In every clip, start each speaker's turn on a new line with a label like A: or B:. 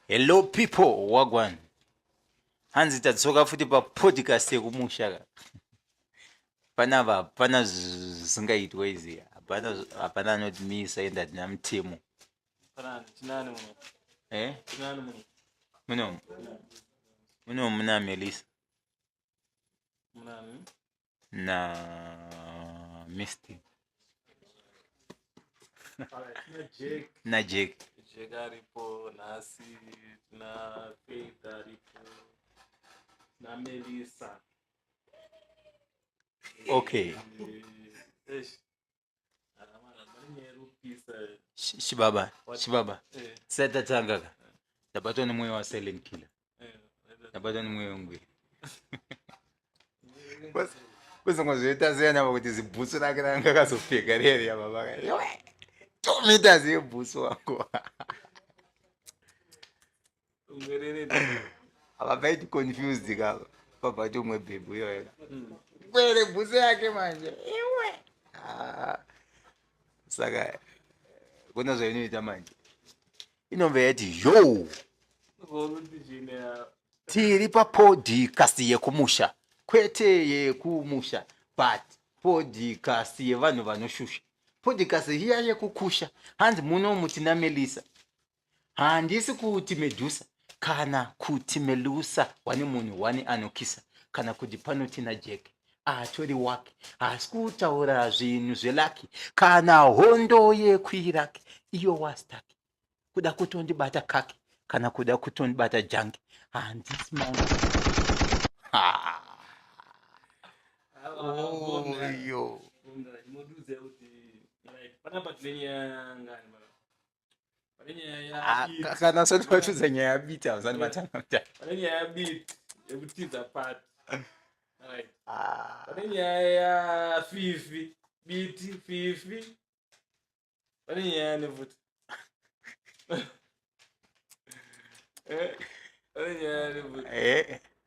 A: Hello people wagwan. Hanzi tadzoka futi pa podcast yekumusha ka. Pana va pana zvingaitwa izi. Hapana hapana anotimisa enda tina mutemo. Pana tinani muno. Eh? Tinani muno. Muno. Muno muna Melissa. Munani. na Misty na Jack Jack aripo nhasi na Faith aripo na Melissa okay Eh, eish, Sh- Shibaba, Shibaba. Seta changaka. Ndabatwa nemweya wa silent killer. Ndabatwa nemweya wengwira. Kuzongozviita ziya navo kuti zibhutsu rake ranga akazopfeka rere yababa. Tomita zibhutsu wako. vakaiti confused ka pabati umwe bhebhu iyoyo kwere bhuse yake manje iwe ah. saka kuna zvainoita manje inobva yati yo tiri papodcast yekumusha kwete yekumusha but podcast yevanhu vanoshusha podcast hiya yekukusha hanzi muno mutina melisa handisi kuti medusa kana kuti melusa wane munhu wani anokisa kana kuti panoti najeke atori wake haasi kutaura zvinhu zvelaki kana hondo yekuiraki iyo wastaki kuda kutondibata kaki kana kuda kutondibata jangi handisi manga oyo oh, Ah, kana sati vatiudza nyaya yabiti havasati vatanga pane nyaya yabiti yekutiza pati ah. pane nyaya yafifi biti fifi pane nyaya nefuti eh, pane nyaya nefuti eh.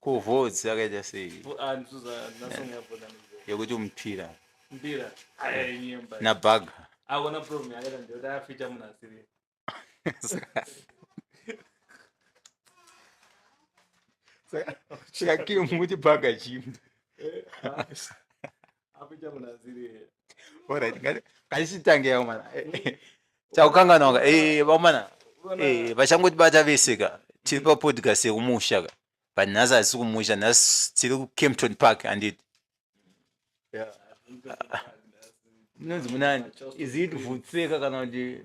A: ko votes yakaita sei yekuti mupira nabaga saka kim kuti baga chimbi kachisitangeyawo mana chakukanganwaka vamana vachangotibata vese ka tiri papodcast yekumusha ka but nhasi hatisi kumusha nhasi tiri kucampton park handiti munonzi munani is it vutseka kana kuti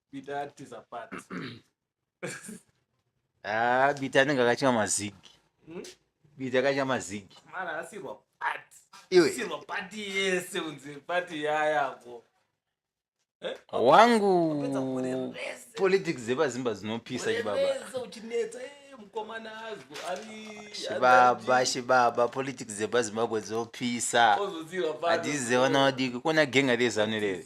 A: bita atiza pat ah bita anenge akatya mazigi hmm? bita akatya mazigi mara asirwa pat iwe asirwa pat yese unzi pat yayako eh? wangu politics dzepazimba dzinopisa chibaba chibaba chibaba politics dzepazimbabwe dzopisa hadzidzi dzevana vadiki kuona genga rezanu rere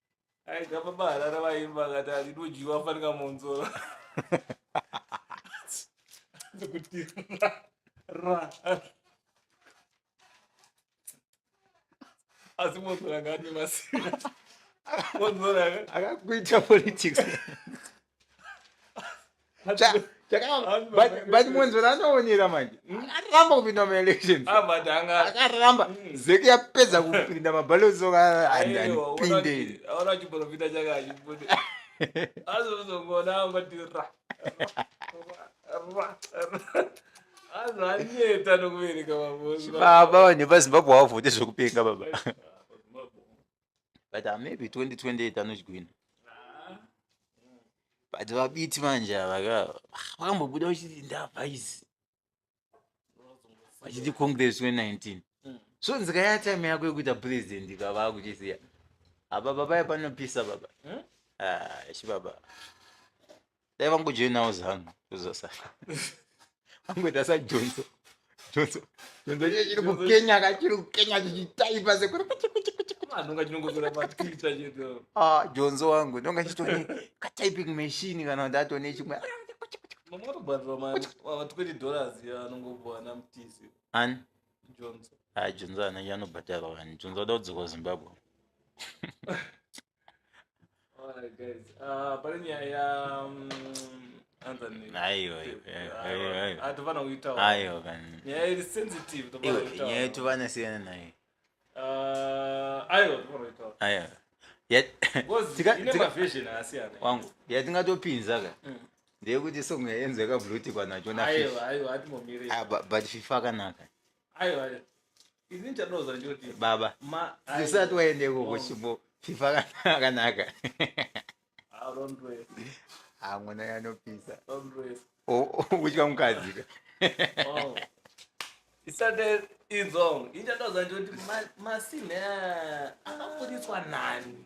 A: aida baba harara vaimba akati atidodyiwa fanika monzora kuti ra asi monzora ngaane masina monzora akakuita politics but munzvera anoonera manje hmm? akaramba kupinda maelections ah, akaramba hmm. zeki yapedza kupinda mabalozokaaaiiibaba vanhu vepazimbabwe hawavhoti zvekupenga baba but ah, maybe 2028 anozvigwina but vabiti manje ava ka vakambobuda vachiti ndavhaisi vachiti congress 2019 so nzika ya time yako yekuita president ka vakuchisiya apa baba panopisa baba Hmm? Ah, shi baba dai vangojoinawo zanu zvozosara angoita sajonso jonso jonso chii chiri kukenya ka chiri kukenya chichitaipa sekuri kuchi kuchi kuchi kuchi Ah, ndonga chinongozora patwitter chedu ah jonso wangu ndonga chitone katyping machine kana kuti atone chimwe mamwe atobhadhirwa ma- ma 20 dollars ya anongopuwa namtisi ani johnson ah jonso ana anobhadharwa wani jonso ada kudzoka kuzimbabwe wangu yatingatopinza ka mm. ndeyekuti song yaenzo yakablutikwa nacho nafi ah, but fifa akanaka baba usati waende ikoko chimbo fifa akanaka hamuna yanopisa uchitya mukadzi ka izongo ichatauza ndikuti masine akaburitswa nani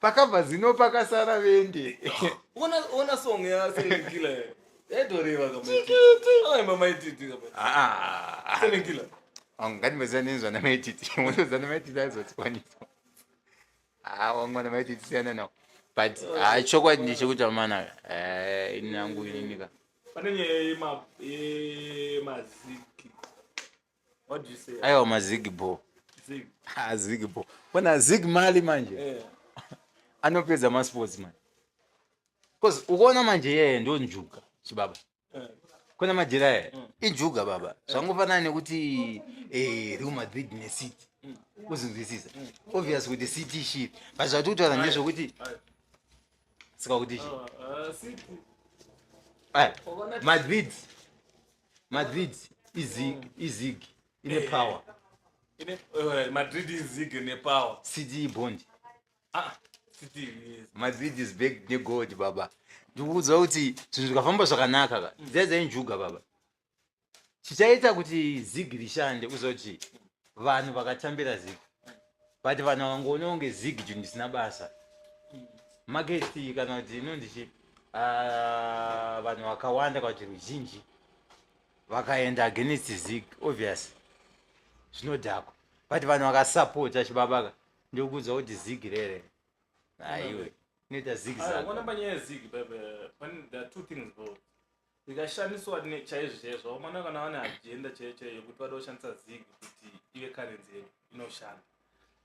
A: pakabva zino pakasara vende ona ona song ya selekila yaidoreva kama chikiti ona mama ititi kama ah, ah. selekila ah, ngati mezana nenzwa na maititi mozana na maititi azotswanisa ah wangu na maititi sana no but ah chokwadi ndi chikuti amana eh inangu ininika panenye ye ma ye maziki aiwa mazigbo azigbo kona zig mali manje eh. anopedza masports manje bcause ukuona manje yeye ndo njuga chibaba eh. kona majira yeye mm. injuga baba eh. zvangofanana nekuti real madrid necity mm. uzinzwisisa mm. obvious kuti city shit but zvatotara ndezvekuti sika kuti chi ah, ah, madrid Madrid izig izig ine power. Ine eh, Madrid izig ine power. City bond. Ah, City yes. Madrid is big ne gold baba. Ndikuudza kuti zvinhu zvikafamba zvakanaka ka. Mm. Zedza injuga baba. Chichaita kuti zig rishande kuzoti vanhu vakatambira zig. but vanhu vakangoona kunge zig ju ndisina basa magesti kana kuti inonzi chi ah, vanhu vakawanda kana kuti ruzhinji vakaenda against zig obvious zvinodhakwa but vanhu vakasapota chibabaka ndikuudza kuti zig rere aiwe inoita zig Ah, zag ukaona panyaya yezig bebe pane there are two things bro Ndikashamiswa ne chaizvo chaizvo vakomana kana vane agenda chaiyo chaiyo yekuti vada kushandisa zig kuti ive currency yedu inoshanda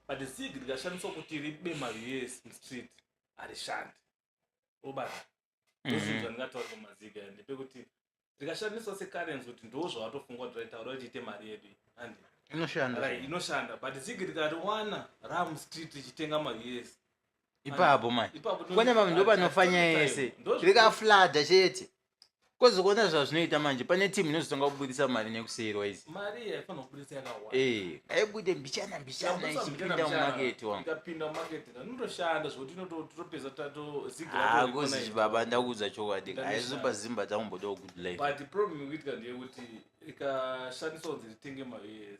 A: but zig ndikashamiswa kuti ribe mari yes mustreet harishandi obata ndozvinhu zvandingataura pamazig aya ndepekuti rikashandiswa securrency kuti ndo zvawatofunga kuti raitaura kuti ite mari yedu iyi handi inoshanda Right, inoshanda but zig rikariwana ramustreet richitenga mari yes ipapo mai kwane mama ndopanofanya yese rikaflada chete kozokuona zvazvinoita manje pane timu inozotanga kubudisa mari nekuseirwa izi eh, ngaibude mbichana mbichana ichipinda mumaketi wanguakozi baba ndakuudza chokwadi aizopa zimba takumbodawo good life ikashandiswa kunzi ritenge mavs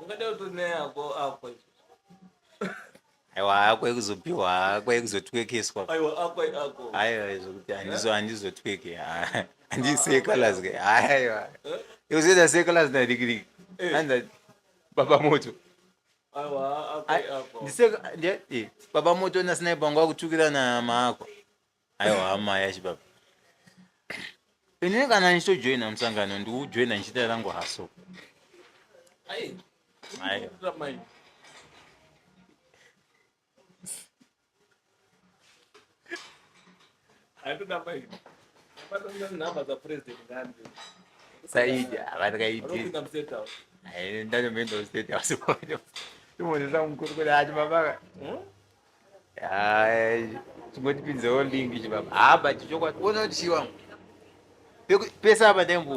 A: ungada kutoneyako akwa aiwa akwa ekuzopiwa akwa ekuzotwekeswa aiwa akwa ako aiwa zvokuti handizo handizotweke handiseekalas ke aiwa ekuzoita seekalas nadikidiki anza baba moto baba moto nasinaipangu akutukira na maakwa aiwa hama yachibaba ini kana ndichitojoina musangano ndikujoina ndichiita rangu haso saidi avatakaidindandomendaustate house imonesamukuru kuti ati mabaka chingotipinzewo link ichi baba haa but chokwadi ona kuti chii wangu pese apa ndaimbo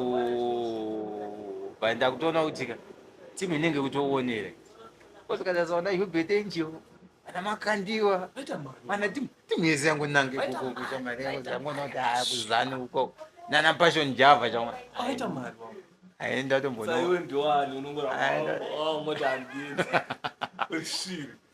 A: but ndakutoona kuti ka timu inenge kutoonera kosikatasaona hubert angel ana makandiwa ana timu yese yangu nange kukokuchamariyangoona kuti haa kuzani uko nana passion java chama aenda tombonoaenda